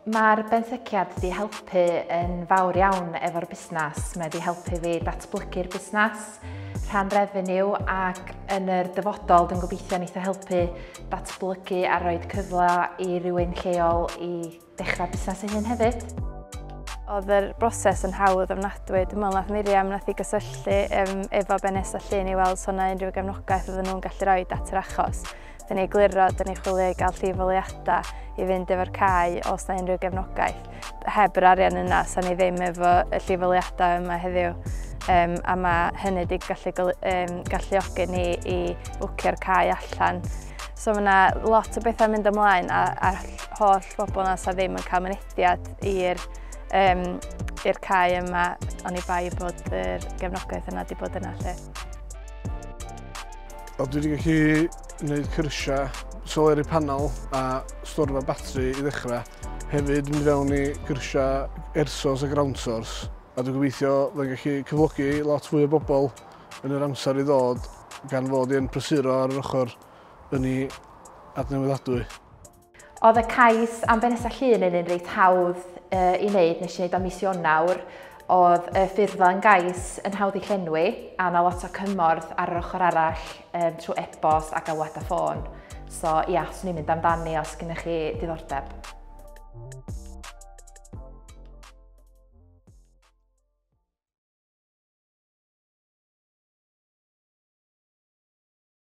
Mae'r benthyciad wedi helpu yn fawr iawn efo'r busnes. Mae wedi helpu fi datblygu'r busnes, rhan revenue ac yn yr dyfodol dwi'n gobeithio wneith o helpu datblygu a rhoi cyfle i rywun lleol i Dechrau busnes ei hun hefyd. Oedd yr broses yn hawdd ofnadwy. Dwi'n meddwl nath Miriam nath i gysylltu um, efo Benes a Llun i weld sona yna unrhyw gefnogaeth oedden nhw'n gallu rhoi at yr achos. Dyn ni gliro, dyn ni chwilio i gael llifoliadau i fynd efo'r cae os na unrhyw gefnogaeth. Heb yr arian yna, sa'n ni ddim efo y llifoliadau yma heddiw. Um, a mae hynny wedi gallu um, galluogi ni i wcio'r cae allan. So mae yna lot o bethau mynd ymlaen a, a holl bobl yna sydd ddim yn cael mynediad i'r um, i'r cae yma, ond i bai bod yr gefnogaeth yna wedi bod yna lle. A dwi wedi gallu gwneud cyrsiau soleri panel a storfa batri i ddechrau. Hefyd mynd fewn i gyrsiau ersos a ground source. A dwi'n gobeithio fydden gallu cyflogi lot fwy o bobl yn yr amser i ddod gan fod i'n prysuro ar yr ochr yn ei adnewyddadwy. Oedd y cais am Benesa Llun yn un reit hawdd uh, i wneud, nes i wneud o mis Ionawr. Oedd y ffurffa yn gais yn hawdd i llenwi, a na lot o cymorth ar yr ochr arall um, trwy e-bost a galwad a ffôn. So ia, yeah, swn i'n mynd amdani os gennych chi diddordeb.